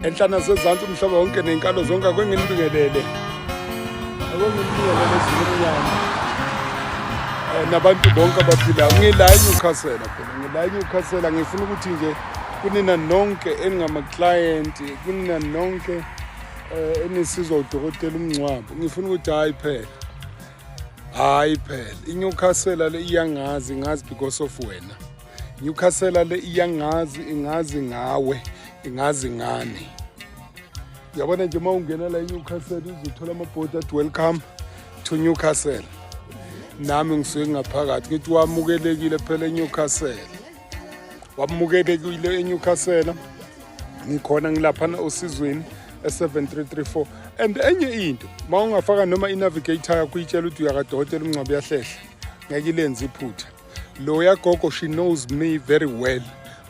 enhlana sezantsi umhlaba wonke nenkalo zonke akwenginibingelele akwenginibingelele zimnyama eh, nabantu bonke abaphilayo ngila enyewcastle phela ngila enyewcastle ngifuna ukuthi nje kunina nonke eningamaklayenti kunina nonke um enisizwa udokotela umngcwabo ngifuna ukuthi hhayi phela hhayi phela inyewcastle le iyangazi ngazi because of wena Newcastle le iyangazi ingazi ngawe ingazi ngani yabona nje uma ungena la iNewcastle uzothola amabhodi athi welcome to Newcastle nami ngisuke ngaphakathi ngithi wamukelekile phela eNewcastle wamukelekile eNewcastle ngikhona ngilaphana osizweni e7334 and enye into uma ungafaka noma inavigator yakho uyitshela ukuthi uyakadokotela umngcwabo uyahlehla ngeke ilenze iphutha loya gogo she knows me very well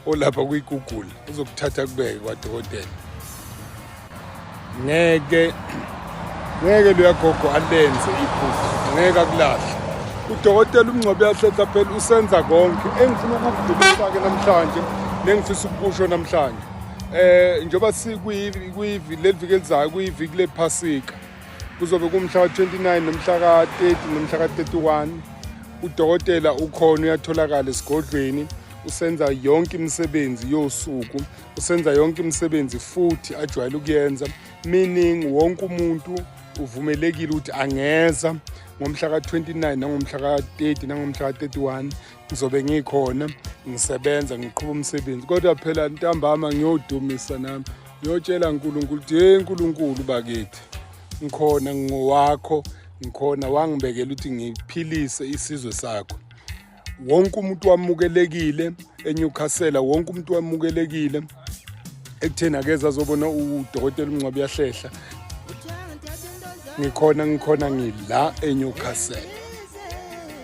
olapha kuyigoogle uzokuthatha kubeke kwadokotela ngeke ngeke loya gogo alenze iphutha ngeke akulahle udokotela umngcwabe yahletha phela usenza konke engifuna ukukudlulisa-ke namhlanje nengifisa ukukusho namhlanje um njengoba sikuleli viki elizayo kuyiviki lephasika kuzobe kumhla ka-29 nomhla ka-30 nomhla ka-31 udokotela ukhona uyatholakala esigodlweni usenza yonke imisebenzi yosuku usenza yonke imisebenzi futhi ajwayele ukuyenza meaning wonke umuntu uvumelekile ukuthi angeza ngomhla ka-29 nangomhla ka-30 nangomhla ka-31 ngizobe ngikhona ngisebenza ngiqhuba umsebenzi kodwa phela ntambama ngiyodumisa nami Ngiyotshela uNkulunkulu ukuthi hey uNkulunkulu bakithi ngikhona ngingowakho ngikhona wangibekela ukuthi ngiphilise isizwe sakho wonke umuntu wamukelekile eNewcastle wonke umuntu wamukelekile ekutheni akeza azobona udokotela umncwabi yahlehla ngikhona ngikhona ngila eNewcastle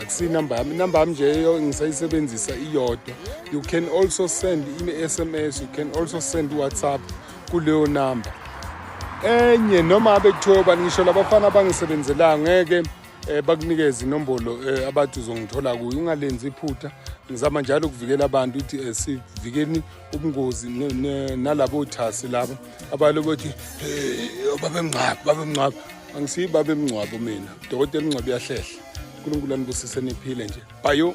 akusinumber yami inumber yami nje ngisayisebenzisa iyodwa you can also send i-sms you can also send whatsapp kuleyo number enye noma abe kuthiwa ubani ngisho labafana abangisebenzelayo ngeke um eh, bakunikeze inombolo um eh, abathi uzongithola kuyo ungalenzi iphutha ngizama njalo ukuvikela abantu ukuthi um sivikeni ubungozi nalabo thasi labo abalo bothi babemngcwabo babemngcwabo angisiyi babemngcwabo mina dokotela umngcwabo uyahlehla unkulunkulu anibusise niphile nje bayo